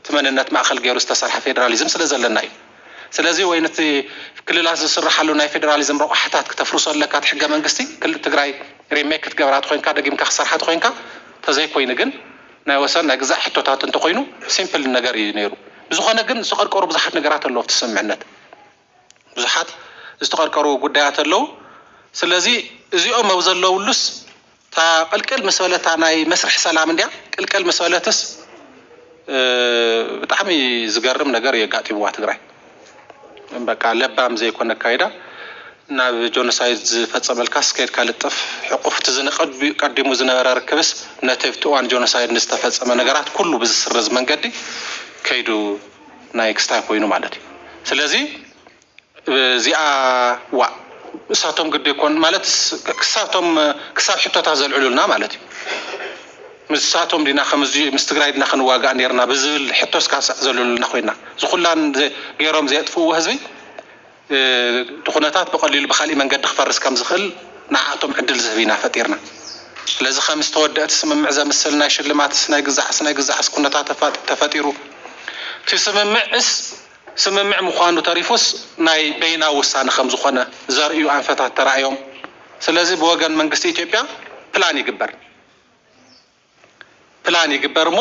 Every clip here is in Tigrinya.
እቲ መንነት ማእኸል ገይሩ ዝተሰርሐ ፌዴራሊዝም ስለዘለና እዩ። ስለዚ ወይ ንቲ ክልላት ዝስርሓሉ ናይ ፌዴራሊዝም ረቋሕታት ክተፍርሶ ኣለካ እቲ ሕገ መንግስቲ ክልል ትግራይ ሪሜክ ክትገብራ ተኾይንካ ደጊምካ ክትሰርሓ ተኾይንካ ተዘይኮይኑ ግን ናይ ወሰን ናይ ግዛእ ሕቶታት እንተኾይኑ ሲምፕል ነገር እዩ ነይሩ ብዝኾነ ግን ዝቐርቀሩ ብዙሓት ነገራት ኣለዉ ኣብቲ ስምምዕነት ብዙሓት ዝተቐርቀሩ ጉዳያት ኣለዉ። ስለዚ እዚኦም ኣብ ዘለውሉስ እታ ቅልቅል ምስ በለት እታ ናይ መስርሕ ሰላም እንድያ ቅልቅል ምስ በለትስ ብጣዕሚ ዝገርም ነገር እዩ ኣጋጢምዋ ትግራይ። በቃ ለባም ዘይኮነ ኣካይዳ ናብ ጆኖሳይድ ዝፈፀመልካስ ከይድካ ልጠፍ ሕቑፍ እቲ ዝንቐ ቀዲሙ ዝነበረ ርክብስ ነቲ ኣብቲ እዋን ጆኖሳይድ ንዝተፈፀመ ነገራት ኩሉ ብዝስርዝ መንገዲ ከይዱ ናይ ክስታይ ኮይኑ ማለት እዩ ስለዚ እዚኣ ዋእ እሳቶም ግዲ ኮን ማለት ክሳብ ቶም ክሳብ ሕቶታት ዘልዕሉልና ማለት እዩ ምሳቶም ዲና ከምዚ ምስ ትግራይ ድና ክንዋጋእ ኔርና ብዝብል ሕቶ ስካሳዕ ዘልዕሉልና ኮይና ዝኩላን ገሮም ዘየጥፍእዎ ህዝቢ ኩነታት ብቐሊሉ ብኻሊእ መንገዲ ክፈርስ ከም ዝኽእል ንዓኣቶም ዕድል ዝህብ ኢና ፈጢርና። ስለዚ ከም ዝተወደእ እቲ ስምምዕ ዘምስል ናይ ሽልማትስ ናይ ግዛዕስ ናይ ግዛዕስ ኩነታት ተፈጢሩ። እቲ ስምምዕስ ስምምዕ ምዃኑ ተሪፉስ ናይ በይናዊ ውሳነ ከም ዝኾነ ዘርእዩ ኣንፈታት ተራእዮም። ስለዚ ብወገን መንግስቲ ኢትዮጵያ ፕላን ይግበር። ፕላን ይግበር እሞ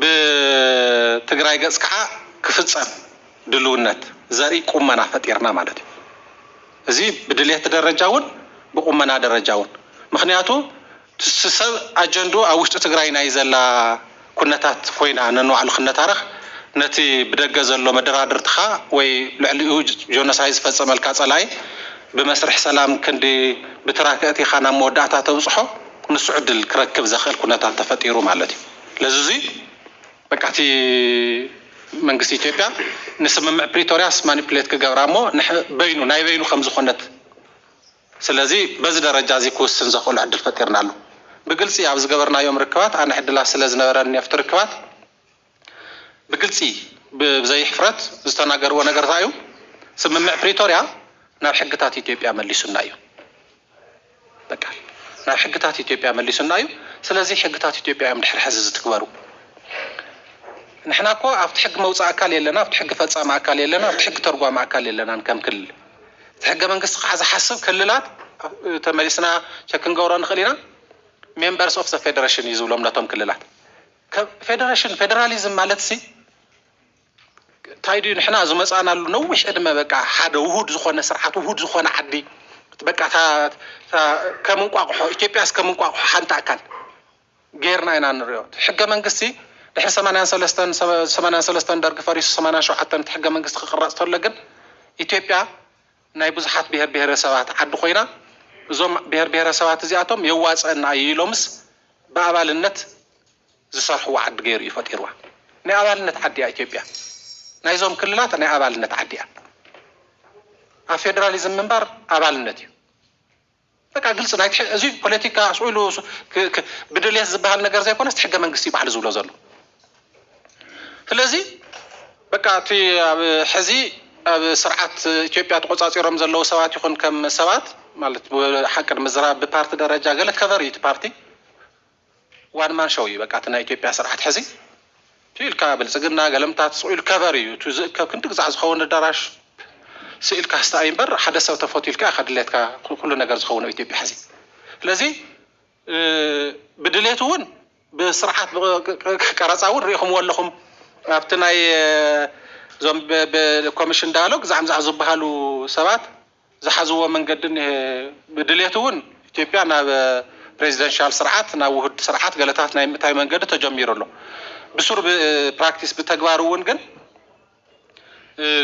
ብትግራይ ገፅ ከዓ ክፍፀም ድልውነት ዘርኢ ቁመና ፈጢርና ማለት እዩ። እዚ ብድሌት ደረጃ እውን ብቁመና ደረጃ እውን ምኽንያቱ እቲ ሰብ ኣጀንድኡ ኣብ ውሽጢ ትግራይ ናይ ዘላ ኩነታት ኮይና ነንባዕሉ ክነታረኽ ነቲ ብደገ ዘሎ መደራድርትኻ ወይ ልዕሊኡ ጆኖሳይድ ዝፈፀመልካ ፀላኢ ብመስርሕ ሰላም ክንዲ ብትራክ እእቲኻ ናብ መወዳእታ ተብፅሖ ንሱ ዕድል ክረክብ ዘኽእል ኩነታት ተፈጢሩ ማለት እዩ። ለዚ እዙይ በቃ እቲ መንግስቲ ኢትዮጵያ ንስምምዕ ፕሪቶርያስ ማኒፑሌት ክገብራ እሞ ንሕ በይኑ ናይ በይኑ ከም ዝኾነት ስለዚ በዚ ደረጃ እዙይ ክውስን ዘኽእሎ ዕድል ፈጢርናሉ። ብግልፂ ኣብ ዝገበርናዮም ርክባት ኣነ ዕድላት ስለ ዝነበረኒ ኣብቲ ርክባት ብግልፂ ብዘይሕፍረት ዝተናገርዎ ነገር ታይ እዩ? ስምምዕ ፕሪቶርያ ናብ ሕግታት ኢትዮጵያ መሊሱና እዩ። በቃ ናብ ሕግታት ኢትዮጵያ መሊሱና እዩ። ስለዚ ሕግታት ኢትዮጵያ እዮም ድሕሪ ሕዚ ዝትግበሩ። ንሕና እኮ ኣብቲ ሕጊ መውፃኢ ኣካል የለና፣ ኣብቲ ሕጊ ፈፃሚ ኣካል የለና፣ ኣብቲ ሕጊ ተርጓሚ ኣካል የለናን ከም ክልል። እቲ ሕገ መንግስቲ ከዓ ዝሓስብ ክልላት ተመሊስና ቸክ ክንገብሮ ንኽእል ኢና፣ ሜምበርስ ኦፍ ዘ ፌደሬሽን እዩ ዝብሎም ነቶም ክልላት። ከም ፌደረሽን ፌደራሊዝም ማለትሲ ታይ ድዩ ንሕና ዝመፃእናሉ ነዊሕ ዕድመ በቃ ሓደ ውሁድ ዝኾነ ስርዓት ውሁድ ዝኾነ ዓዲ በቃ ከም እንቋቑሖ ኢትዮጵያስ ከም እንቋቑሖ ሓንቲ ኣካል ጌርና ኢና ንሪኦ ሕገ መንግስቲ ድሕሪ ሰማንያን ሰለስተን ሰማንያን ሰለስተን ደርጊ ፈሪሱ ሰማንያን ሸውዓተን እቲ ሕገ መንግስቲ ክቕረፅ ተሎ ግን ኢትዮጵያ ናይ ብዙሓት ብሄር ብሄረሰባት ዓዲ ኮይና እዞም ብሄር ብሄረሰባት እዚኣቶም የዋፅኣና እዩ ኢሎምስ ብኣባልነት ዝሰርሕዋ ዓዲ ገይሩ እዩ ፈጢርዋ። ናይ ኣባልነት ዓዲ እያ ኢትዮጵያ። ናይዞም ክልላት ናይ ኣባልነት ዓዲ እያ። ኣብ ፌደራሊዝም ምንባር ኣባልነት እዩ። በቃ ግልፂ ናይ እዙይ ፖለቲካ ስኡ ኢሉ ብድልየት ዝበሃል ነገር ዘይኮነስ ሕገ መንግስቲ ባዕሉ ዝብሎ ዘሎ ስለዚ በቃ እቲ ኣብ ሕዚ ኣብ ስርዓት ኢትዮጵያ ተቆፃፂሮም ዘለዉ ሰባት ይኹን ከም ሰባት ማለት ሓቂ ንምዝራብ ብፓርቲ ደረጃ ገለ ከቨር እዩ እቲ ፓርቲ ዋን ማን ሾው እዩ በቃ እቲ ናይ ኢትዮጵያ ስርዓት ሕዚ ትዩ ኢልካ ብልጽግና ገለምታት ጽኡ ኢሉ ከቨር እዩ እቲ ዝእከብ ክንዲ ግዛዕ ዝኸውን ኣዳራሽ ስኢልካ ስተ ኣዩ እምበር ሓደ ሰብ ተፈትዩ ኢልካ ኢኻ ድሌትካ ኩሉ ነገር ዝኸውን ኣብ ኢትዮጵያ ሕዚ ስለዚ ብድሌት እውን ብስርዓት ቀረጻ እውን ሪኢኹምዎ ኣለኹም ኣብቲ ናይ እዞም ኮሚሽን ዳያሎግ ዛዕምዛዕ ዝበሃሉ ሰባት ዝሓዝዎ መንገዲ ብድሌት እውን ኢትዮጵያ ናብ ፕሬዚደንሻል ስርዓት ናብ ውሁድ ስርዓት ገለታት ናይ ምእታይ መንገዲ ተጀሚሩ ኣሎ። ብሱር ብፕራክቲስ ብተግባር እውን ግን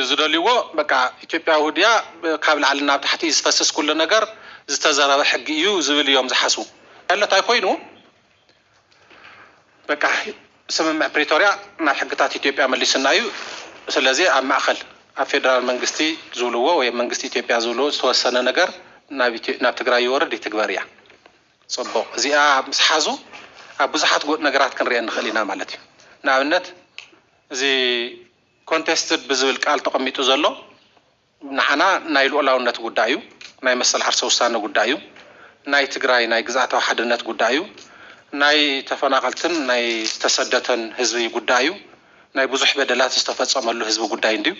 ዝደልዩዎ በቃ ኢትዮጵያ ውሁድ እያ ካብ ላዕሊ ናብ ታሕቲ እዩ ዝፈስስ ኩሉ ነገር ዝተዘረበ ሕጊ እዩ ዝብል እዮም ዝሓስቡ። ዕለታይ ኮይኑ በቃ ስምምዕ ፕሪቶርያ ናብ ሕግታት ኢትዮጵያ መሊሱና እዩ፣ ስለዚ ኣብ ማእኸል ኣብ ፌደራል መንግስቲ ዝብልዎ ወይ ኣብ መንግስቲ ኢትዮጵያ ዝብልዎ ዝተወሰነ ነገር ናብ ትግራይ ይወርድ ይትግበር እያ። ፅቡቕ እዚኣ ምስ ሓዙ ኣብ ብዙሓት ጎ ነገራት ክንሪኤን ንኽእል ኢና ማለት እዩ። ንኣብነት እዚ ኮንቴስትድ ብዝብል ቃል ተቐሚጡ ዘሎ ንዓና ናይ ሉኣላውነት ጉዳይ እዩ፣ ናይ መሰል ዓርሰ ውሳነ ጉዳይ እዩ፣ ናይ ትግራይ ናይ ግዝኣታዊ ሓድነት ጉዳይ እዩ፣ ናይ ተፈናቐልትን ናይ ዝተሰደተን ህዝቢ ጉዳይ እዩ፣ ናይ ብዙሕ በደላት ዝተፈፀመሉ ህዝቢ ጉዳይ እንድዩ።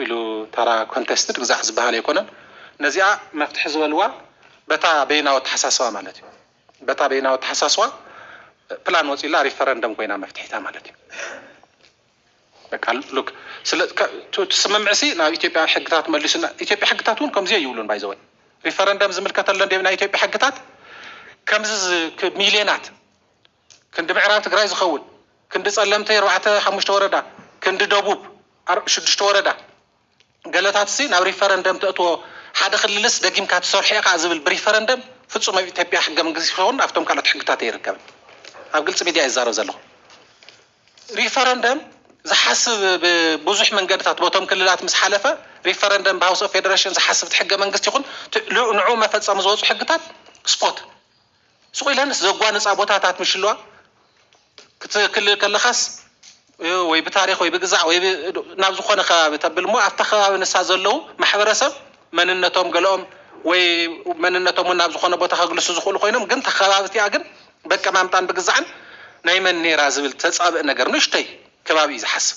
ኢሉ ተራ ኮንተስትድ ግዛዕ ዝበሃል ኣይኮነን። ነዚኣ መፍትሒ ዝበልዋ በታ በይናዊ ኣተሓሳስባ ማለት እዩ። በታ በይናዊ ኣተሓሳስባ ፕላን ወፂኡላ ሪፈረንደም ኮይና መፍትሒታ ማለት እዩ። በቃ ሉክ ስለ ቱ ትስምምዕሲ ናብ ኢትዮጵያ ሕግታት መሊሱና ኢትዮጵያ ሕግታት እውን ከምዚ ይብሉን ባይዘወይ ሪፈረንደም ዝምልከተለን ዲብ ናይ ኢትዮጵያ ሕግታት ከምዚ ዝ- ክ- ሚልዮናት ክንዲ ምዕራብ ትግራይ ዝኸውን ክንዲ ጸለምተይ ኣርባዕተ ሓሙሽተ ወረዳ ክንዲ ደቡብ ኣር- ሽዱሽተ ወረዳ ገለታትሲ ናብ ሪፈረንደም ተእትዎ ሓደ ክልልስ ደጊምካ ትሰርሖ ኢኻ ዝብል ብሪፈረንደም ፍጹም ኣብ ኢትዮጵያ ሕገ መንግስቲ ይኸውን ኣብቶም ካልኦት ሕግታት ኣይርከብን ኣብ ግልጺ ሚድያ እየ ዝዛረብ ዘለኹ ሪፈረንደም ዝሓስብ ብብዙሕ መንገድታት ቦቶም ክልላት ምስ ሓለፈ ሪፈረንደም ብሃውስ ኦፍ ፌደሬሽን ዝሓስብ ትሕገ መንግስቲ ይኹን ንዑ መፈጸሚ ዝወፁ ሕግታት ስፖት ስቕ ኢለንስ ዘጓንፃ ቦታታት ምሽለዋ ክትክልል ከለኻስ ወይ ብታሪኽ ወይ ብግዛዕ ወይ ናብ ዝኾነ ከባቢ ተብል እሞ ኣብታ ከባቢ ንሳ ዘለዉ ማሕበረሰብ መንነቶም ገለኦም ወይ መንነቶም እውን ናብ ዝኾነ ቦታ ከግልሱ ዝኽእሉ ኮይኖም ግን እታ ከባቢ እቲኣ ግን በቀማምጣን ብግዛዕን ናይ መን ነይራ ዝብል ተፃብእ ነገር ንእሽተይ ከባቢ እዩ ዝሓስብ።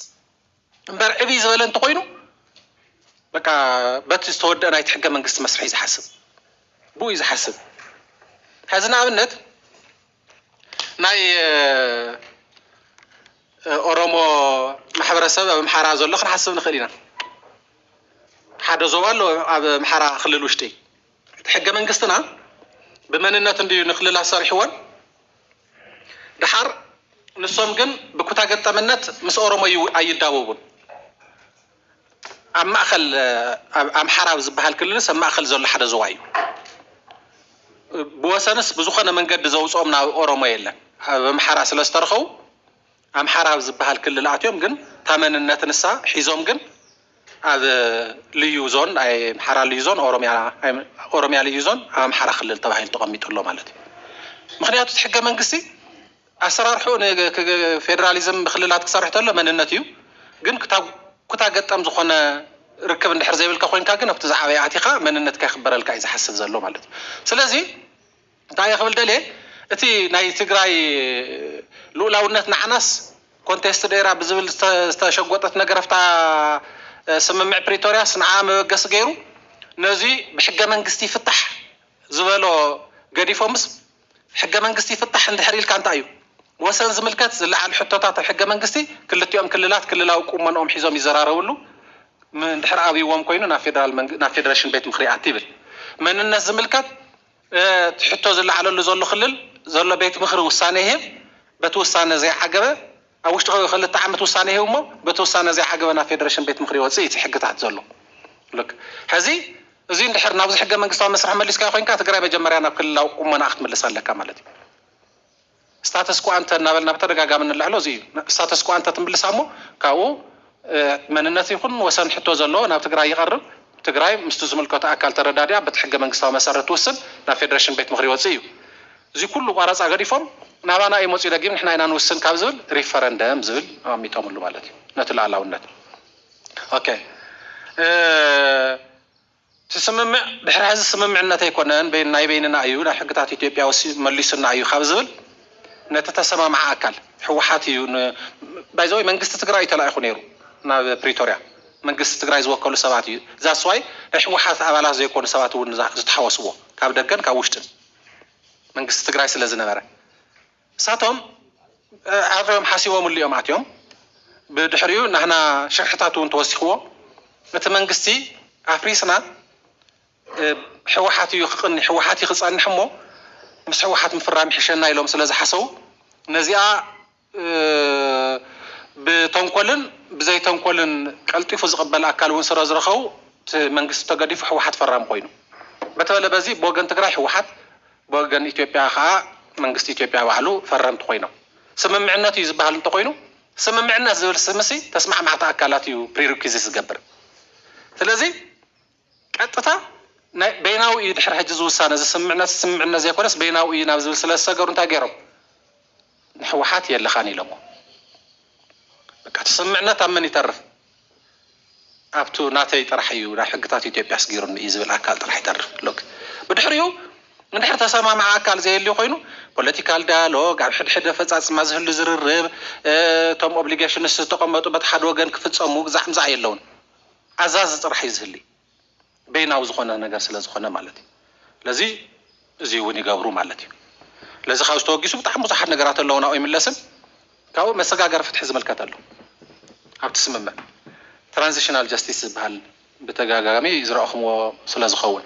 እምበር ዕብይ ዝበለ እንተኾይኑ በቃ በቲ ዝተወደአ ናይቲ ሕገ መንግስቲ መስርሕ እዩ ዝሓስብ ብኡ እዩ ዝሓስብ ሕዚ ንኣብነት ናይ ኦሮሞ ማሕበረሰብ ኣብ ኣምሓራ ዘሎ ክንሓስብ ንኽእል ኢና። ሓደ ዞባ ኣሎ ኣብ ኣምሓራ ክልል ውሽጢ እቲ ሕገ መንግስትና ብመንነት እንድዩ ንክልላት ሰሪሕወን ደሓር ንሶም ግን ብኩታ ገጠምነት ምስ ኦሮሞ ኣይዳወቡን ኣብ ማእኸል ኣምሓራ ዝበሃል ክልልስ ኣብ ማእኸል ዘሎ ሓደ ዞባ እዩ ብወሰንስ ብዝኾነ መንገዲ ዘውፅኦም ናብ ኦሮሞ የለን ኣብ ኣምሓራ ስለዝተረኸቡ ኣምሓራ ኣብ ዝብሃል ክልል ኣትዮም ግን እታ መንነት ንሳ ሒዞም ግን ኣብ ልዩ ዞን ኣምሓራ ልዩ ዞን ኦሮሚያ ልዩ ዞን ኣብ ኣምሓራ ክልል ተባሂሉ ተቐሚጡ ኣሎ ማለት እዩ። ምኽንያቱ እቲ ሕገ መንግስቲ ኣሰራርሕኡ ንፌደራሊዝም ብክልላት ክሰርሕ ተሎ መንነት እዩ ግን ክታ ኩታ ገጠም ዝኾነ ርክብ እንድሕር ዘይብልካ ኮይንካ ግን ኣብቲ ዝዓበየ ኣቲኻ መንነትካ ይኽበረልካ እዩ ዝሓስብ ዘሎ ማለት እዩ። ስለዚ እንታይ እየ ክብል ደልየ እቲ ናይ ትግራይ ሉኡላውነት ንዓናስ ኮንቴስትድ ኤራ ብዝብል ዝተሸጎጠት ነገር ኣብታ ስምምዕ ፕሪቶርያስ ንዓኣ መበገሲ ገይሩ ነዚ ብሕገ መንግስቲ ይፍታሕ ዝበሎ ገዲፎምስ ሕገ መንግስቲ ይፍታሕ እንድሕር ኢልካ እንታይ እዩ ወሰን ዝምልከት ዝለዓል ሕቶታት ኣብ ሕገ መንግስቲ ክልቲኦም ክልላት ክልላዊ ቁመንኦም ሒዞም ይዘራረብሉ እንድሕር ኣብይዎም ኮይኑ ናብ ፌደሬሽን ቤት ምኽሪ ይኣቲ ይብል መንነት ዝምልከት እቲ ሕቶ ዝለዓለሉ ዘሎ ክልል ዘሎ ቤት ምኽሪ ውሳነ ይህብ፣ በቲ ውሳነ ዘይዓገበ ኣብ ውሽጢ ክልተ ዓመት ውሳነ ይህብ እሞ በቲ ውሳነ ዘይዓገበ ናብ ፌደሬሽን ቤት ምኽሪ ይወፅእ እዩ እቲ ሕግታት ዘሎ። Look ሕዚ እዙይ እንድሕር ናብዚ ሕገ መንግስታዊ መስርሕ መሊስካዮ ኮይንካ ትግራይ መጀመርያ ናብ ክልላዊ ቁመናኣ ክትምልስ ኣለካ ማለት እዩ። ስታተስ ኮ ኣንተ እናበልና ብተደጋጋሚ እንልዕሎ እዚ እዩ። ስታተስ ኮ ኣንተ ትምልሳ እሞ ካብኡ መንነት ይኹን ወሰን ሕቶ ዘለዎ ናብ ትግራይ ይቐርብ፣ ትግራይ ምስቲ ዝምልከቶ ኣካል ተረዳዲኣ በቲ ሕገ መንግስታዊ መሰረት ትውስን ናብ ፌደሬሽን ቤት ምኽሪ ይወፅእ እዩ። እዚ ኩሉ ቋረፃ ገዲፎም ናባና እዩ መፂኡ ደጊም ንሕና ኢና ንውስን ካብ ዝብል ሪፈረንደም ዝብል ኣሚጠምሉ ማለት እዩ ነቲ ልኣላውነት። ኦኬ። እቲ ስምምዕ ድሕሪ ሕዚ ስምምዕነት ኣይኮነን ናይ በይንና እዩ ናብ ሕግታት ኢትዮጵያ ወሲዱ መሊሱና እዩ ካብ ዝብል ነቲ ተሰማምዓ ኣካል ህወሓት እዩ ባይ ዘ ዌይ መንግስቲ ትግራይ እዩ ተላኢኹ ነይሩ ናብ ፕሪቶርያ መንግስቲ ትግራይ ዝወከሉ ሰባት እዩ ዛትስ ዋይ ናይ ህወሓት ኣባላት ዘይኮኑ ሰባት እውን ዝተሓወስዎ ካብ ደገን ካብ ውሽጥን መንግስቲ ትግራይ ስለ ዝነበረ ንሳቶም ኣፍዮም ሓሲቦምሉ እዮም ኣትዮም ብድሕሪኡ ናህና ሽርሕታት እውን ተወሲኽዎ እቲ መንግስቲ ኣፍሪስና ሕወሓት እዩ ክቕኒ ሕወሓት እዩ ክፀንሕ እሞ ምስ ሕወሓት ምፍራም ይሕሸና ኢሎም ስለ ዝሓሰቡ ነዚኣ ብተንኮልን ብዘይተንኮልን ቀልጢፉ ዝቕበል ኣካል እውን ስለ ዝረኸቡ እቲ መንግስቲ ተገዲፉ ሕወሓት ፈራሚ ኮይኑ በተበለ በዚ ብወገን ትግራይ ሕወሓት ብወገን ኢትዮጵያ ከኣ መንግስቲ ኢትዮጵያ ባዕሉ ፈረምቲ ኮይኖም። ስምምዕነት እዩ ዝበሃል እንተኾይኑ ስምምዕነት ዝብል ስምሲ ተስማዕማዕቲ ኣካላት እዩ ፕሪሪኪዚት ዝገብር። ስለዚ ቀጥታ ናይ በይናዊ እዩ ድሕሪ ሕጂ እዚ ውሳነ እዚ ስምምዕነት ስምምዕነት ዘይኮነስ በይናዊ እዩ ናብ ዝብል ስለዝሰገሩ እንታይ ገይሮም? ንሕወሓት የለኻን ኢሎሞ በቃ ተሰምዕነት ኣብ መን ይተርፍ ኣብቱ ናተይ ጥራሕ እዩ ናብ ሕግታት ኢትዮጵያ ኣስጊሩኒ እዩ ዝብል ኣካል ጥራሕ ይተርፍ ሎክ ብድሕሪኡ እንድሕር ተሰማምዐ ኣካል ዘየልዩ ኮይኑ ፖለቲካል ዳያሎግ ኣብ ሕድሕድ ኣፈፃፅማ ዝህሉ ዝርርብ እቶም ኦብሊጌሽንስ ዝተቐመጡ በቲ ሓደ ወገን ክፍፀሙ ግዛዕ ምዛዕ የለውን ኣዛዚ ጥራሕ እዩ ዝህሊ በይናዊ ዝኾነ ነገር ስለ ዝኾነ ማለት እዩ። ስለዚ እዙይ እውን ይገብሩ ማለት እዩ። ስለዚ ካብዚ ተወጊሱ ብጣዕሚ ብዙሓት ነገራት ኣለዉ ናብኡ ይምለስን ካብኡ መሰጋገሪ ፍትሒ ዝምልከት ኣሎ ኣብቲ ስምምዕ ትራንዚሽናል ጀስቲስ ዝበሃል ብተደጋጋሚ ዝረእኹምዎ ስለ ዝኸውን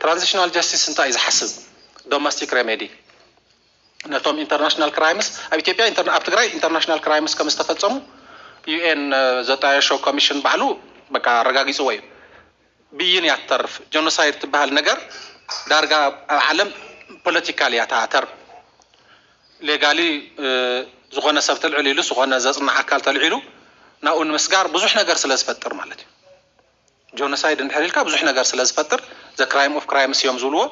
ትራንዚሽናል ጀስቲስ እንታይ እዩ ዝሓስብ ዶመስቲክ ሬሜዲ ነቶም ኢንተርናሽናል ክራይምስ ኣብ ኢትዮጵያ ኣብ ትግራይ ኢንተርናሽናል ክራይምስ ከም ዝተፈፀሙ ዩኤን ዘጣየሾ ኮሚሽን ባዕሉ በቃ ኣረጋጊፅዎ እዩ። ብይን እያ ትተርፍ። ጀኖሳይድ ትበሃል ነገር ዳርጋ ኣብ ዓለም ፖለቲካል እያ እታ ተርም። ሌጋሊ ዝኾነ ሰብ ተልዕል ኢሉ ዝኾነ ዘፅንዕ ኣካል ተልዒሉ ናብኡ ንምስጋር ብዙሕ ነገር ስለ ዝፈጥር ማለት እዩ። ጆኖሳይድ እንድሕር ኢልካ ብዙሕ ነገር ስለ ዝፈጥር the crime of crimes እዮም ዝብልዎ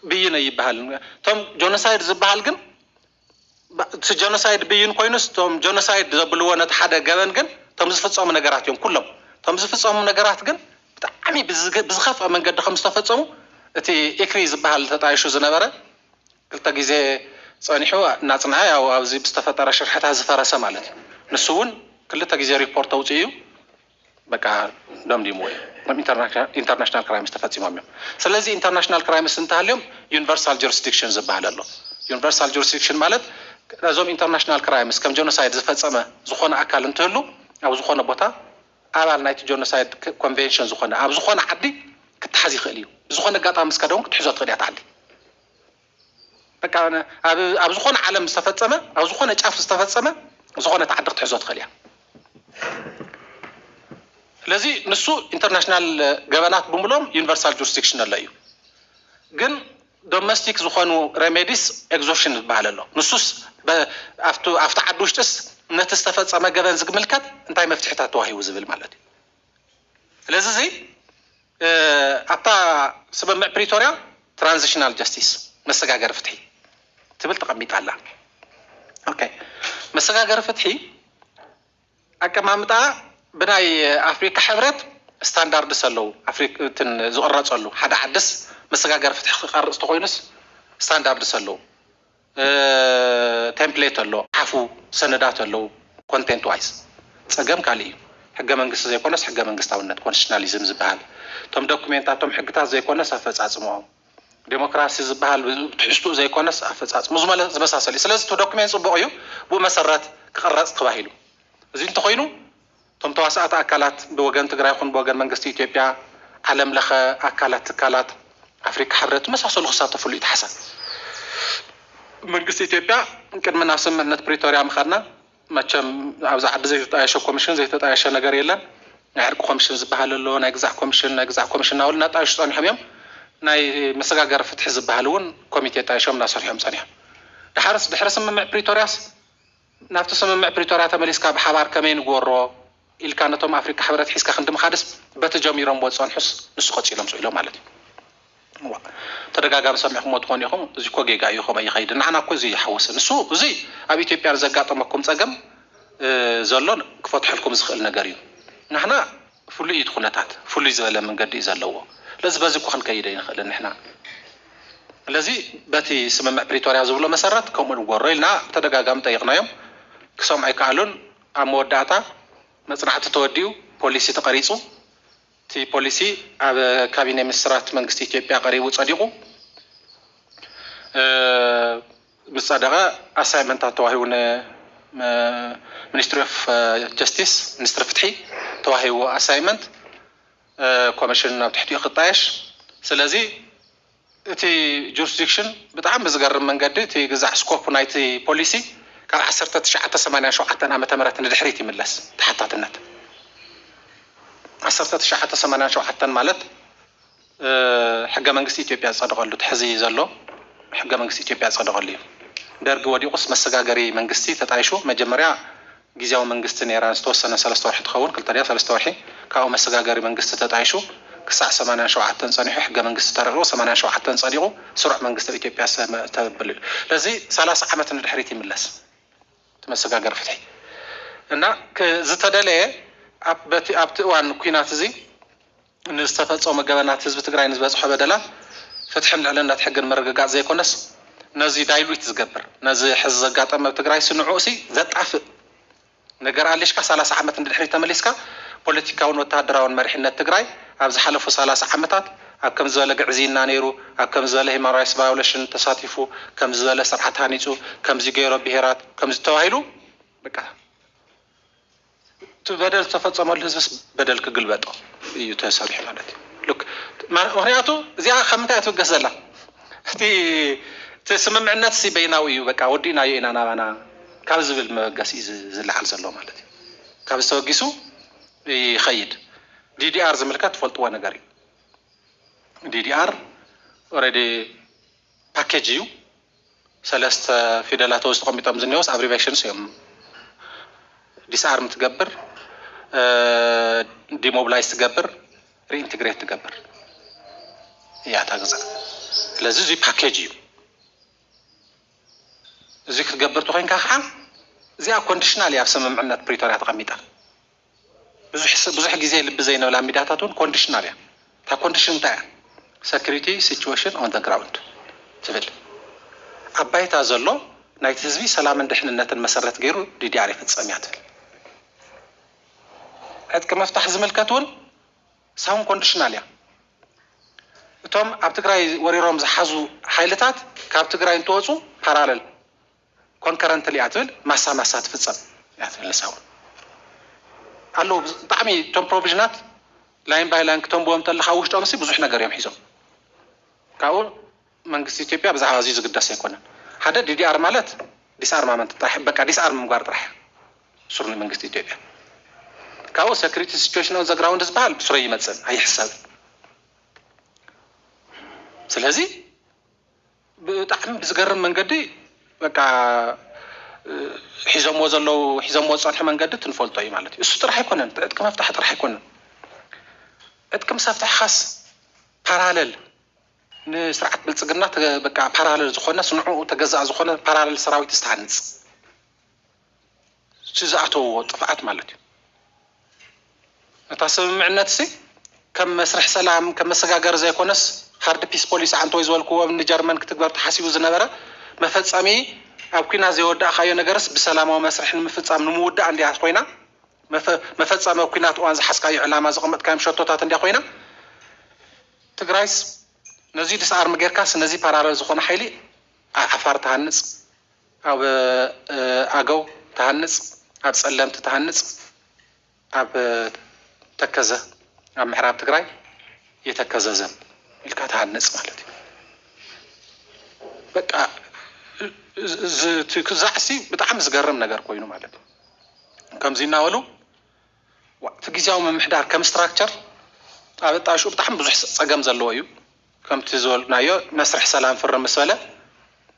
ብይን ኣይብሃልን እቶም ጆኖሳይድ ዝብሃል ግን እቲ ጆኖሳይድ ብይን ኮይኑስ እቶም ጆኖሳይድ ዘብልዎ ነቲ ሓደ ገበን ግን እቶም ዝፍፀሙ ነገራት እዮም ኩሎም እቶም ዝፍፀሙ ነገራት ግን ብጣዕሚ ብዝኸፍኣ መንገዲ ከም ዝተፈፀሙ እቲ ኢክሪ ዝብሃል ተጣይሹ ዝነበረ ክልተ ግዜ ፀኒሑ እናፅንዐ ያው ኣብዚ ብዝተፈጠረ ሽርሕታት ዝፈረሰ ማለት እዩ ንሱ እውን ክልተ ግዜ ሪፖርት ተውፅኡ እዩ በቃ ደምዲምዎ እዩ ከም ኢንተርናሽናል ኢንተርናሽናል ክራይምስ ተፈጺሞም እዮም ስለዚ ኢንተርናሽናል ክራይምስ እንተሃልዮም ዩኒቨርሳል ጁሪስዲክሽን ዝበሃል ኣሎ ዩኒቨርሳል ጁሪስዲክሽን ማለት ነዞም ኢንተርናሽናል ክራይምስ ከም ጆኖሳይድ ዝፈጸመ ዝኾነ ኣካል እንትህሉ ኣብ ዝኾነ ቦታ ኣባል ናይቲ ጆኖሳይድ ኮንቬንሽን ዝኾነ ኣብ ዝኾነ ዓዲ ክተሓዝ ይኽእል እዩ ብዝኾነ ኣጋጣሚ ምስ ከደ እውን ክትሕዞ ትኽእል እያ እታ ዓዲ በቃ ኣብ ኣብ ዝኾነ ዓለም ዝተፈጸመ ኣብ ዝኾነ ጫፍ ዝተፈጸመ ዝኾነት ዓዲ ክትሕዞ ትኽእል እያ። ስለዚ ንሱ ኢንተርናሽናል ገበናት ብምሎም ዩኒቨርሳል ጁሪስዲክሽን ኣሎ እዩ ግን ዶሜስቲክ ዝኾኑ ሬሜዲስ ኤግዞሽን ዝበሃል ኣሎ ንሱስ ኣብቲ ዓዲ ውሽጢስ ነቲ ዝተፈጸመ ገበን ዝግምልከት እንታይ መፍትሒታት ተዋሂቡ ዝብል ማለት እዩ። ስለዚ እዚ ኣብታ ስምምዕ ፕሪቶርያ ትራንዚሽናል ጀስቲስ፣ መሰጋገሪ ፍትሒ፣ ትብል ተቐሚጣ ኣላ። ኦኬ መሰጋገሪ ፍትሒ ኣቀማምጣኣ ብናይ ኣፍሪካ ሕብረት ስታንዳርድስ ኣለዉ። ዝቕረፀሉ ሓደ ዓድስ መሰጋገሪ ፍትሒ ክቐርፅ ተኾይኑስ ስታንዳርድስ ኣለዉ። ቴምፕሌት ኣሎ ሓፉ ሰነዳት ኣለዉ ኮንቴንት ዋይዝ ጸገም ካልእ እዩ ሕገ መንግስቲ ዘይኮነስ ሕገ መንግስታውነት ኮንስቲቱሽናሊዝም ዝብሃል እቶም ዶኩሜንታት እቶም ሕግታት ዘይኮነስ ኣፈጻጽምኦም ዴሞክራሲ ዝብሃል ብትሕዝትኡ ዘይኮነስ ኣፈጻጽሙ ዝመሳሰል እዩ ስለዚ እቲ ዶኩሜንት ጽቡቕ እዩ ብኡ መሰረት ክቕረጽ ተባሂሉ እዚ እንተኾይኑ እቶም ተዋሳእቲ ኣካላት ብወገን ትግራይ ይኹን ብወገን መንግስቲ ኢትዮጵያ፣ ዓለም ለኸ ኣካላት፣ ትካላት ኣፍሪካ ሕብረት ዝመሳሰሉ ክሳተፍሉ እዩ ተሓሳብ። መንግስቲ ኢትዮጵያ ቅድሚ ናብ ስምምዕነት ፕሪቶርያ ምኻድና መቸም ኣብዛ ዓዲ ዘይተጣየሸ ኮሚሽን ዘይተጣየሸ ነገር የለን። ናይ ዕርቂ ኮሚሽን ዝበሃል ኣሎ፣ ናይ ግዛዕ ኮሚሽን፣ ናይ ግዛዕ ኮሚሽን እናበሉ እናጣየሹ ፀኒሖም እዮም። ናይ መሰጋገሪ ፍትሒ ዝበሃል እውን ኮሚቴ ጣይሾም እናሰርሑ እዮም ፀኒሖም። ደሓርስ ድሕሪ ስምምዕ ፕሪቶርያስ? ናብቲ ስምምዕ ፕሪቶርያ ተመሊስካ ብሓባር ከመይ ንግበሮ ኢልካ ነቶም ኣፍሪቃ ሕብረት ሒዝካ ክንዲ ምኻድስ በቲ ጀሚሮምዎ ዝጸንሑስ ንሱ ቀጺሎም ስኢሎም ማለት እዩ። እዋእ ተደጋጋሚ ሰሚዕኩሞ ትኾኑ ኢኹም እዚ እኮ ጌጋ እዩ ከምኡ ኣይኸይድን ንዓና እኮ እዚ ይሓወሰ ንሱ እዚ ኣብ ኢትዮጵያ ንዘጋጠመኩም ጸገም ዘሎ ክፈትሐልኩም ዝኽእል ነገር እዩ ንሕና ፍሉይ እዩ እቲ ኩነታት ፍሉይ ዝበለ መንገዲ እዩ ዘለዎ ስለዚ በዚ እኮ ክንከይድ ኣይንኽእልን ንሕና ስለዚ በቲ ስምምዕ ፕሪቶርያ ዝብሎ መሰረት ከምኡ ንግበሮ ኢልና ብተደጋጋሚ ጠይቕናዮም ክሰምዑ ኣይከኣሉን ኣብ መወዳእታ መፅናዕቲ ተወዲኡ ፖሊሲ ተቐሪፁ እቲ ፖሊሲ ኣብ ካቢኔ ሚኒስትራት መንግስቲ ኢትዮጵያ ቀሪቡ ፀዲቑ ምስ ጸደቐ ኣሳይመንታት ተዋሂቡ ንሚኒስትሪ ኦፍ ጀስቲስ፣ ሚኒስትሪ ፍትሒ፣ ተዋሂቡ ኣሳይመንት ኮሚሽን ናብ ትሕቲኡ ክጣየሽ ስለዚ እቲ ጁርስዲክሽን ብጣዕሚ ብዝገርም መንገዲ እቲ ግዛዕ ስኮፕ ናይቲ ፖሊሲ ካብ ዓሰርተ ትሽዓተ ሰማንያን ሸውዓተን ዓመተ ምህረት ንድሕሪት ይምለስ ተሓታትነት ዓሰርተ ትሽዓተ ሰማንያን ሸውዓተን ማለት ሕገ መንግስቲ ኢትዮጵያ ዝፀደቐሉ እቲ ሕዚ ዘሎ ሕገ መንግስቲ ኢትዮጵያ ዝፀደቐሉ እዩ። ደርጊ ወዲቑስ መሰጋገሪ መንግስቲ ተጣይሹ መጀመርያ ጊዚያዊ መንግስቲ ነይራ ንዝተወሰነ ሰለስተ ወርሒ ትኸውን ክልተ ድያ ሰለስተ ወርሒ ካብኡ መሰጋገሪ መንግስቲ ተጣይሹ ክሳዕ ሰማንያን ሸውዓተን ፀኒሑ ሕገ መንግስቲ ተረቒቑ ሰማንያን ሸውዓተን ፀዲቑ ስሩዕ መንግስቲ ኣብ ኢትዮጵያ ተብል እዩ። ስለዚ ሰላሳ ዓመት ንድሕሪት ይምለስ እቲ መሰጋገሪ ፍትሒ እና ዝተደለየ ኣብቲ ኣብቲ እዋን ኩናት እዚ ንዝተፈፀሙ ገበናት፣ ህዝቢ ትግራይ ንዝበፅሖ በደላት ፍትሕን ልዕልነት ሕግን ምርግጋፅ ዘይኮነስ ነዙይ ዳይሉት ዝገብር ነዚ ሕዚ ዘጋጠመ ኣብ ትግራይሲ ንዑኡሲ ዘጣፍእ ነገር ኣሊሽካ ሰላሳ ዓመት ንድሕሪት ተመሊስካ ፖለቲካውን ወታደራውን መሪሕነት ትግራይ ኣብ ዝሓለፉ ሰላሳ ዓመታት ኣብ ከምዚ ዝበለ ግዕዝይና ነይሩ ኣብ ከምዚ ዝበለ ሂማን ራይትስ ቫዮለሽን ተሳቲፉ ከምዚ ዝበለ ስርዓት ሃኒፁ ከምዙይ ገይሮ ብሄራት ከምዙይ ተባሂሉ በቃ እቲ በደል ዝተፈፀመሉ ህዝብስ በደል ክግልበጦ እዩ ተሰሪሑ ማለት እዩ። ምክንያቱ እዚኣ ካብ ምንታይ እያ ትብገስ ዘላ? እቲ እቲ ስምምዕነትሲ በይናዊ እዩ በቃ ወዲእናዮ ኢና ናባና ካብ ዝብል መበገሲ እዩ ዝለዓል ዘሎ ማለት እዩ። ካብዚ ተበጊሱ ይኸይድ። ዲዲኣር ዝምልከት ትፈልጥዎ ነገር እዩ። ዲዲኣር ኦሬዲ ፓኬጅ እዩ። ሰለስተ ፊደላት ኣብዚ ተቀሚጦም ዝኒኦውስ ኣብሪቬሽንስ እዮም ዲስኣርም ትገብር ዲሞብላይዝ ትገብር ሪኢንትግሬት ትገብር እያ እታ ግዛ ስለዚ እዙይ ፓኬጅ እዩ እዙይ ክትገብር ተኮይንካ ከዓ እዚኣ ኮንዲሽናል እያ ኣብ ስምምዕነት ፕሪቶርያ ተቀሚጣ ብዙሕ ብዙሕ ግዜ ልቢ ዘይንብላ ሚድያታት እውን ኮንዲሽናል እያ። እታ ኮንዲሽን እንታይ እያ? ሰክሪቲ ሲቹዌሽን ኦን ዘ ግራውንድ ትብል። ኣብ ባይታ ዘሎ ናይቲ ህዝቢ ሰላምን ድሕንነትን መሰረት ገይሩ ዲዲኣር ይፍፀም እያ ትብል። ዕጥቂ ምፍታሕ ዝምልከት እውን ሳውን ኮንዲሽናል እያ። እቶም ኣብ ትግራይ ወሪሮም ዝሓዙ ሓይልታት ካብ ትግራይ እንትወፁ ፓራለል ኮንከረንትሊ እያ ትብል ማሳ ማሳ ትፍጸም እያ ትብል ንሳ ውን ኣለዉ ብጣዕሚ እቶም ፕሮቪዥናት ላይን ባይ ላይን ክተንብዎም ተለካ ውሽጦምሲ ብዙሕ ነገር እዮም ሒዞም ካብኡ መንግስቲ ኢትዮጵያ ብዛዕባ እዚ ዝግደስ ኣይኮነን ሓደ ዲዲኣር ማለት ዲስኣርማመንት ጥራሕ በቃ ዲስኣርም ምግባር ጥራሕ እዩ ሱር ንመንግስቲ ኢትዮጵያ ካብኡ ሰክሪቲ ሲቹዌሽን ኦን ዘግራውንድ ዝበሃል ብሱረ ይመፅን ኣይሕሰብን ስለዚ ብጣዕሚ ብዝገርም መንገዲ በቃ ሒዞምዎ ዘለዉ ሒዞምዎ ዝጸንሑ መንገዲ እቲ ንፈልጦ እዩ ማለት እዩ። እሱ ጥራሕ ኣይኮነን እቲ ዕጥቂ መፍታሒ ጥራሕ ኣይኮነን ዕጥቂ ምስ ኣፍታሕኻስ ፓራለል ንስርዓት ብልጽግና በቃ ፓራለል ዝኾነስ ንዕኡ ተገዛኢ ዝኾነ ፓራለል ሰራዊትስ ትሃንጽ። እቲ ዝኣተውዎ ጥፍኣት ማለት እዩ። ነታ ስምምዕነትሲ ከም መስርሕ ሰላም፣ ከም መሰጋገሪ ዘይኮነስ ሃርድ ፒስ ፖሊሲ ዓንተወይ ዝበልኩዎም ንጀርመን ክትግበር ተሓሲቡ ዝነበረ መፈጸሚ ኣብ ኩናት ዘይወዳእካዮ ነገርስ ብሰላማዊ መስርሕ ንምፍጻም ንምውዳእ እንድያ ኮይና መፈጸሚ ኣብ ኩናት እዋን ዝሓዝካዮ ዕላማ ዘቐመጥካዮም ሸቶታት እንድያ ኮይና ትግራይስ ነዙይ ድስኣርም ጌርካስ ነዙይ ፓራለል ዝኾነ ሓይሊ ዓፋር ትሃንጽ ኣብ ኣገው ትሃንጽ ኣብ ጸለምቲ ትሃንጽ ኣብ ተከዘ ኣብ ምዕራብ ትግራይ የተከዘ ዘብ ኢልካ ትሃንጽ ማለት እዩ በቃ እቲ ክዛዕሲ ብጣዕሚ ዝገርም ነገር ኮይኑ ማለት እዩ ከምዚ እናበሉ እቲ ግዜያዊ ምምሕዳር ከም ስትራክቸር ኣብ ኣጣሽኡ ብጣዕሚ ብዙሕ ጸገም ዘለዎ እዩ ከምቲ ዝበልናዮ መስርሕ ሰላም ፍርም ምስ በለ